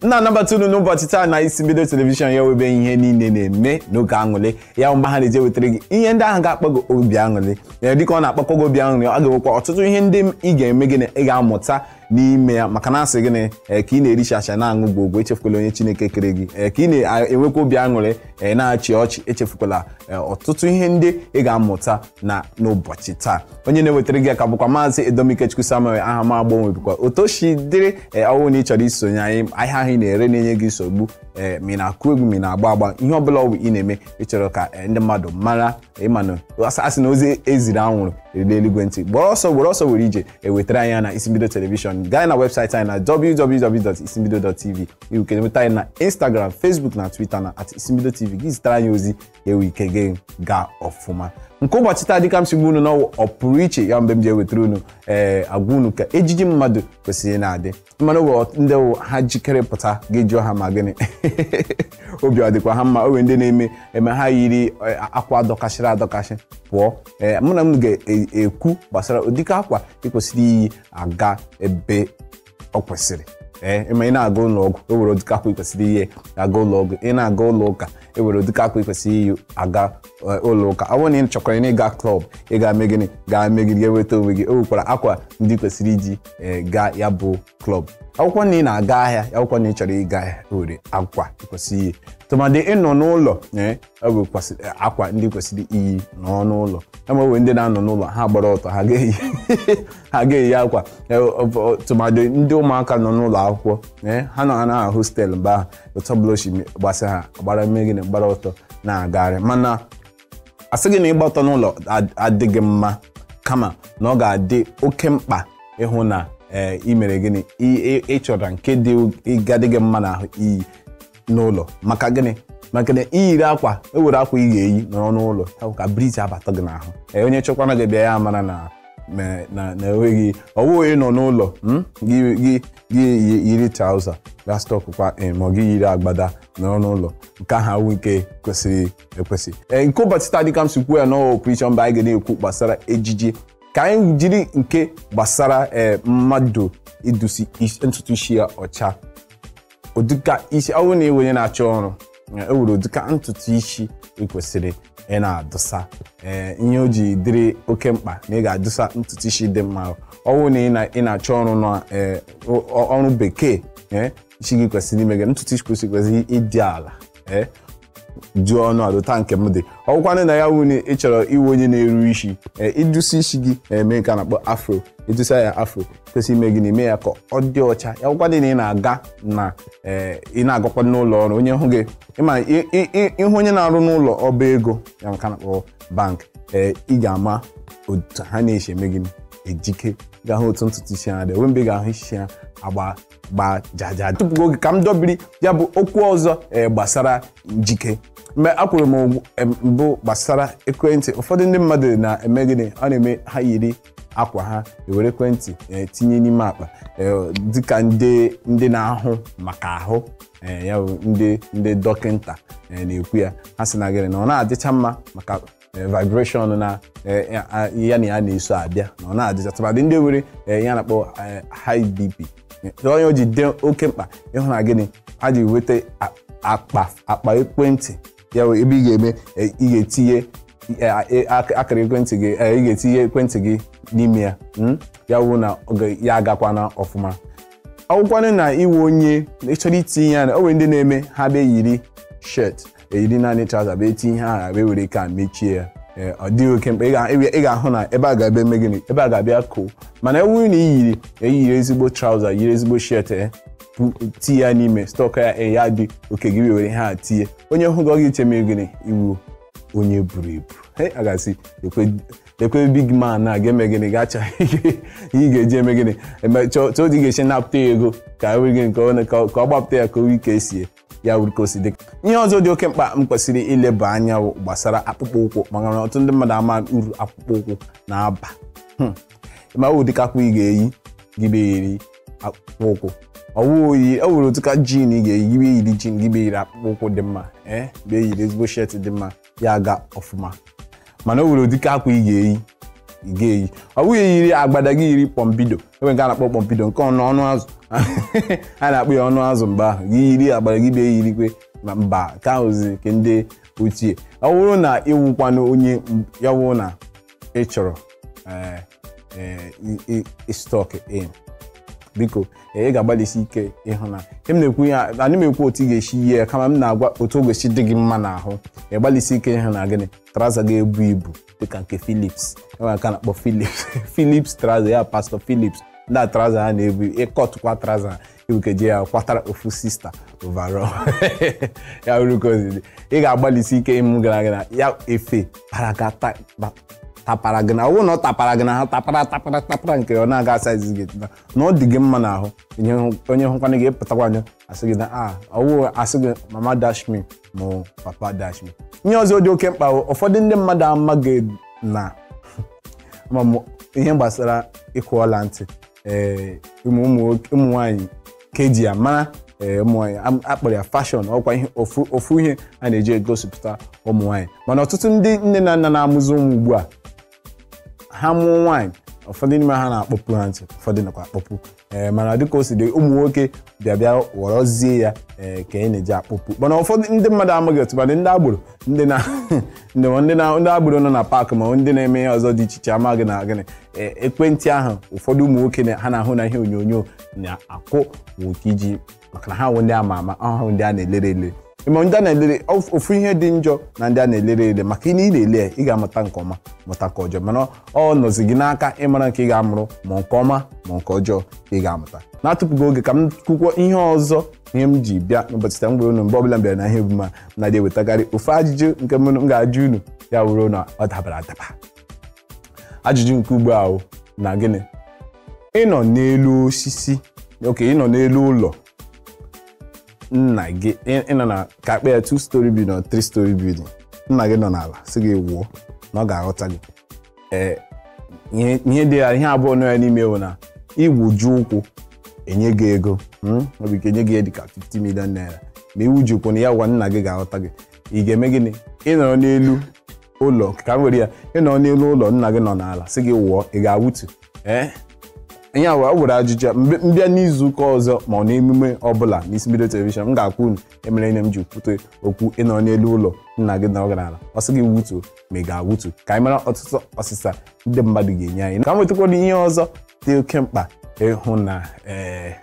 m na-anabata unu n'ụbọchị taa na isimbido telivishọn ya wụ ebe ihe niile na-eme n'oge aṅụrị ya bụ mgbe ha na-eji ewetara gị ihe ndị ahụ ga-akpa gị obi aṅụrị ya dịka ọ na-akpakwa gị obi aṅụrị ọ ga-enwekwa ọtụtụ ihe ndị ị ga-eme gịnị ị ga-amụta n'ime ya maka na asị gịnị ee ka ị na-eri chacha na-aṅụ gbogbo echefukwala onye chineke kere gị ee ka ị na-enwekwa obi aṅụrị ee na-achị ọchị echefukwala ee, ọtụtụ ihe ndị ị ga-amụta na n'ụbọchị taa onye na-ewetara gị ya ka bụkwa maazị edom ikechukwu samuel aha m agbanwebikwa otu o si dịrị ee ọ wụ na ị chọrọ isonye anyị ahịa ahụ ị na-ere na-enye gị nsogbu ee ma ị na-akụ egwu ma ị na-agba agba ihe ọ bụla ọ bụ ị na-eme ị chọrọ ka ee, ndị mmadụ mara ịma na asị- asị na ozi e ziri anwụrụ erule eluigwe ntị gbara ọsọ were ọsọ were ije wetara anyị ya na isimbido telivishọn gaa anyị na webụsaịtị anyị na www.isimbido.tv i nwe ike inweta anyị na instagram facebook na twitter na at isimbido tv gị zitara anyị ozi ka enwe ike gị gaa ọfụma nke ụbọchị taa dịka m si gwa unu na ọ ọ pụrụ iche ya mgbe m ji ewetara unu ee agwa unu ka ejiji mmadụ kwesịrị na-adị ị manụ o nwe ndị wụ ha jikere pụta gị jụọ ha ma gịnị obi ọ dịkwa ha mma o nwere ndị na-eme eme ha yiri eh, akwa dọkasịrị adọkasị pụọ ee mụ na m ga-ekwu gbasara ụdịka akwa ị kwesịrị iyi aga ebe ọ kwesịrị ee ma ị na-aga ụlọ ọgwụ o nwere ụdịka akwa ị kwesịrị iyi aga ụlọ ọgwụ ị na-aga ụlọ ụka o nwere ụdịka akwa ị kwesịrị iyi aga eh, ụlọ ụka ọ bụrụ na ị chọkwaranụ ịga klọb ị ga-eme gịnị ga-eme gị ga-enweta onwe gị o nwekwara akwa ndị ị kwesịrị iji eh, gaa ya bụ klọb ọ wụkwa na ị na-aga ahịa ọ wụkwa na ị chọrọ ịga ahịa o nwere akwa ị kwesịrị iyi tụmadị ịnọ n'ụlọ ee ọ bụ kwasị- akwa ndị ị kwesịrị iyi nọọ n'ụlọ ị ma e nwe ndị na-anọ n'ụlọ ha gbara ọtọ ha ga-eyi ha ga-eyi akwa Eh, ọ- ọ- tụmadị ndị ụmụaka nọ n'ụlọ akwụkwọ eh, ha nọ na hostelụ mgbe ahụ otu ọbụla ochi gbasa ha gbara mee gịnị gbara ọtọ na-agagharị mana asịghị na ịgba ọtọ n'ụlọ ad- adịghị mma kama na ọ ga-adị oke mkpa ịhụ na ee, i mere gịnị I- ị- ị chọrọ nke dị ga-adị gị mma n'ahụ iyi n'ụlọ maka gịnị maka na i yiri akwa e nwere akwa ị ga-eyi nọrọ n'ụlọ ya bụ ka briz abata gị n'ahụ Ee, onye chọkwara gị bịa ya mara na na- na na enweghị ọ wụghị ị nọ n'ụlọ mm, gị gị gị yi- yiri trauza ga stọkụkwa ee, ma ọ gị yiri agbada nọrọ n'ụlọ nke ahụ awụ nke kwesịrị ekwesị Ee, nke ụbọchị taa dịka m si kwuo ya na ọ ọ pụrụ iche mgbe anyị ga na-ekwu gbasara ejiji ka anyị jiri nke gbasara ee, mmadụ idusi is- ntutu isi ya ọcha ụdịka isi ọ bụrụ na ị wụ onye na-achọ ọrụ o nwere ụdịka ntutu isi ị kwesịrị ị na-adụsa ee ihe o ji dịrị oke mkpa na ị ga-adụsa ntutu isi dị mma ọ bụrụ na ị na- ị na-achọ ọrụ na ee, ọ- ọrụ bekee ee isi gị kwesịrị ime gịnị ntutu isi kwesịrị kwesịrị ịdị ala ee jụọ ọnụ adụta nke m dị ọ wụkwanụ na ya wụ na ị chọrọ ịwụ onye na-eru isi ee ịdụsi isi gị eme nke a na-akpọ afro ịdụsa ya afro kwesị ime gịnị ime ya ka ọ dị ọcha ya wụkwadị na ị na-aga na ee ị na-agakwa n'ụlọ ọrụ onye hụ gị ịma ị- ị- ị- ịhụ onye na-arụ n'ụlọ ọba ego ya nke a na-akpọ bank ee ị ga-ama otu ha na-esi eme gịnị ejike ị ga-ahụ otu ntutu isi ha dị enwe mgbe ị ga-ahụ isi ha agba gba jaja tupu oge ka m dọbiri ya bụ okwu ọzọ ee gbasara njike mgbe ekwuru m, em, mbụ gbasara ekwentị ụfọdụ ndị mmadụ na-eme gịnị ọ na-eme ha yiri akwa ha ewere ekwentị ee, tinye n'ime akpa ee, dịka ndị ndị na-ahụ maka ahụ ee, ya bụ ndị ndị dọkịnta ee, na-ekwu ya ha sị na gịnị na ọ na-adịcha mma maka eh, vibration na eh, ya a- ya na ya na-eso abịa na ọ na-adịcha tụmadị ndị nwere eh, ihe a na-akpọ eh, high bp Eh, onye o ji dị oke mkpa ịhụ na gịnị a ji weta a- akpa akpa ekwentị ya wee ebe ị ga-eme eh, ị ga-etinye eh, eh, ak- akara ekwentị gị eh, ị ga-etinye ekwentị gị n'ime ya mm? ya wụ na ọ ga- ya agakwana ọfụma ọ wụkwanụ na ị wụ onye chọrọ itinye ya na o nwere ndị na-eme ha bịa yiri shirt eyiri naanị traza bịa etinye ihe ahụ wee were ka mechie ya ee ọ dịghị oke mkpa ị ga- ị ga- ị ga-ahụ na ebe a ga-abịa eme gịnị ebe a ga-abịa koo mana ọ wụrụ na i yiri eyiri ezigbo traza yiri ezigbo shirt e pu- tii ya n'ime stọk ya e ya dị okay gị wee were ihe a tinye onye hụ gị ọ ga-eche mere gịnị ị wụ onye buru ibu Hey, a ga-asị ekwe- ekwe big man a ga-eme gịnị ga-achọ ihe ị ga-eji eme gịnị Eme- chọọ chọọ otu ị ga-esi napụta ya ego ka e were gịnị ka ọ na- ka ọ ka ọ gbapụta ya ka o ike sie ya wụrụ ka o si dị ihe ọzọ dị oke mkpa m kwesịrị ileba anya wụ gbasara akpụkpọ ụkwụ maka na ọtụtụ ndị mmadụ ama uru akpụkpọ ụkwụ na-aba Hmm. ma o nwere ụdịka akwa ị ga-eyi gị bịa eyiri akpụkpọ ụkwụ ọ wụ oyi e nwere ụdịka jean ị ga-eyi gị bịa eyiri jean gị bịa eyiri akpụkpọ ụkwụ dị mma ee bịa eyiri ezigbo shirt dị mma ya aga ọfụma mana o nwere ụdịka akwa ị ga-eyi ị ga-eyi ọ bụ gị eyiri agbada gị yiri kpọmbido e nwere nke a na-akpọ kpọmbido nke ọnụ ọnụ azụ a na-akpọ ya ọnụ azụ mgbe ahụ gị yiri agbada gị bịa eyirikwe ma mba ka ahụzi nke ndị ochie ọ bụrụ na ị wụkwanụ onye ya wụ na ị chọrọ eh, eh, i- i- ịstọk in biko eh, ị ga-agbalịsi ike ịhụ na ihe m na-ekwu ya anaghị m ekwu otu ị ga-esi yie ya kama m na-agwa otu o ga-esi dị gị mma n'ahụ ị gbalịsi ike ịhụ na gịnị traza ga-ebu ibu dịka nke Philips e nwere nke a na-akpọ Philips Philips traza ya pastọ Philips ndị a traza ha na-ebu ịkọtụkwa traza ha ibukeje ya kwatara ofu sista overall ya bụrụ ka o si dị. ị ga-agbalịsi ike ịmụ gara gị na ya efe para ga ta- ba- tapara gị n'ahụ ọ bụrụ na ọ tapara gị n'ahụ tapara tapara tapara nke ọ na-aga size gị na na ọ dị gị mma n'ahụ onye hụ- onye hụkwana gị ịpụtakwa anya asị gị na a ọwụ asị gị mama dash me ma ọ papa dash me ihe ọzọ dị oke mkpa bụ ụfọdụ ndị mmadụ amaghị na ma mụ ihe gbasara ịkwụ ọla ntị ee ụmụ ụmụ nwoke- ụmụ nwaanyị ka e ji ya mara ee ụmụ nwaanyị am- a kpọrọ ya fashion ọ wụ ihe ofu ofu ihe a na-eji egosipụta ụmụ nwaanyị mana ọtụtụ ndị nne na nna na-amụzi ụmụ ugbu a ha mụọ nwaanyị ụfọdụ n'ime ha na-akpọpu ha ntị ụfọdụ anakwa akpọpu ee mana dịka o si dị ụmụ nwoke bịa bịa ghọrọzie ya ee ka anyị na-eji akpọpu mana ụfọdụ ndị mmadụ amaghị otu mana ndị agboro ndị na ndị ma ndị na ndị agboro nọ na park ma ndị na-eme ihe ọzọ dị iche iche amaghị na gịnị e- nke ntị ahụ ụfọdụ ụmụ nwoke na- ha na-ahụ na ihe onyonyo na-akwụ bụ nke iji maka na ha wụ ndị a ma ama ahụ ndị a na-elere ele ma ndị a na-elere of- ofu ihe dị njọ na ndị a na-elere ele maka na ị na-ele ya, ị ga-amụta nke ọma mụta nke ọjọọ mana ọ nọzi gị n'aka ịmara nke ị ga-amụrụ ma nke ọma ma nke ọjọọ ka ị ga-amụta na-atụpụghị oge ka m kwukwọ ihe ọzọ ihe m ji bịa n'ụbọchị taa m gwara unu mgbe ọbụla m bịara na ihe emume a na-adị ewetakarị ofu ajụjụ nke m m ga-ajụ unu ya wụrụ na ọ dabara adaba ajụjụ nke ugbu a wụ na gịnị ị nọ n'elu osisi okay ị nọ n'elu ụlọ nna gị ị- ị nọ na ka a kpọọ ya two story building or three story building nna gị nọ n'ala sị gị wụọ na ọ ga-aghọta gị ee ihe ihe dị ya ihe abụọ nọ ya n'ime bụ na ị wụjie ụkwụ e nye gị ego mm, ọ bụ ike e nye gị ya dịka 50 million naira ma ị wụjie ụkwụ na ya gwa nna gị ga-aghọta gị ị ga-eme gịnị ị nọrọ n'elu ụlọ ka m were ya ị nọ n'elu ụlọ nna gị nọ n'ala sị gị wụọ ị ga-awụtu ee ihe a wee were ajụjụ a, mbe- m bịa n'izu ụka ọzọ ma ọ n'emume ọbụla n'Isi Mbido telivishọn m ga-agwa unu ihe mere ihe m ji kwute okwu ị nọ n'elu ụlọ nna gị nọrọ gị n'ala ọ sị gị wụtuo ma ị ga-awụtu ka anyị mara ọtụtụ ọsịsa ndị mmadụ ga-enye anyị ka m wetakwara ihe ọzọ dị oke mkpa ịhụ na ee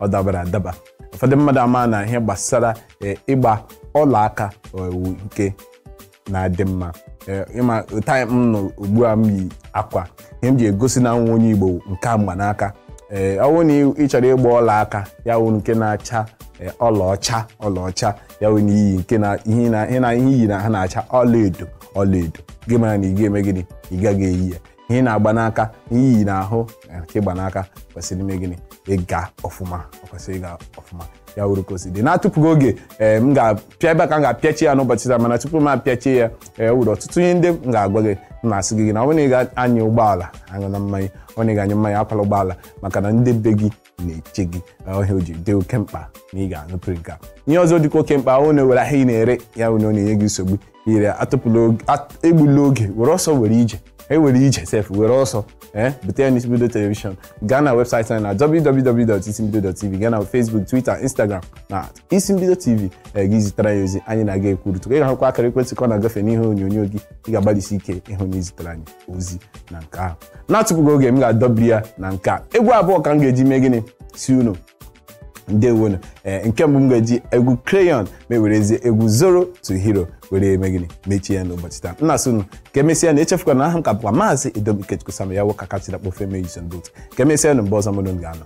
ọ dabara adaba ụfọdụ mmadụ ama na ihe gbasara ee, ịgba ọla aka ọ wụ nke na-adị mma Ee, ị ma time m nọ ugbu a m yi akwa ihe m ji egosi na awụ m nwa onye Igbo nke m gba n'aka ee ọ bụrụ na ị- ị chọrọ ịgba ọla aka ya wụrụ nke na-acha ee, ọlaọcha ọlaọcha ya wụ na i yi nke na ihe na ihe na ihe i yi n'ahụ na-acha ọlaedo ọlaedo gị mara na ị ga-eme gịnị ị gaghị eyi ya ihe ị na-agba n'aka ihe i yi n'ahụ eh, nke ị gba n'aka kwesịrị ime gịnị ịga ọfụma ọ kwesịrị ịga ọfụma ya wụrụ ka o si dị na-atụpụghị oge ee m ga-apịa ebe a ka m ga-apịachi ya n'ụbọchị taa mana tupu m apịachie ya o nwere ọtụtụ ihe ndị m ga-agwa gị m na-asị gị gị na ọ bụrụ na ị ga-anya ụgbọala aṅụna mmanya ọ bụrụ na ị ga-aṅụ mmanya akwala ụgbọala maka na ndị be gị na-eche gị ọhịa o ji dị oke mkpa na ị ga-anụpụrụ nke a ihe ọzọ dịkwa oke mkpa wụ na e nwere ahịa ị na-ere ya bụ na ọ na-enye gị nsogbu ire ya atụpụla oge- at- egbula oge were ọsọ were ije ewere ije sef were ọsọ ee bute ya n'isimbido telivishọn gaa na webụsaịtị anyị na www.isimbido.tv gaa na facebook twitter instagram na isimbido tv ee, gị zitere anyị ozi anyị na gị ekwurịta ị ga-ahụkwa akara ekwentị ka ọ na-agafe n'ihe onyonyo gị ị ga-agbalịsi ike ịhụ na izitere anyị ozi na nke ahụ na-atụpụghị oge m ga-adọbiri ya na nke a egwu abụọ ka m ga-eji mee gịnị sị unu ndewonu ee nke mbụ m ga-eji egwu crayon ma ewerezie egwu zoro to hero were eme gịnị mechie ya n'ụbọchị taa m na-asị unu ka emesịa na echefukwana na aha m ka bụkwa maazị edom ikechukwu sam ya wụ ka kachira kpofe mee jison dot ka emesịa na mgbe ọzọ mụ na unu ga-anọ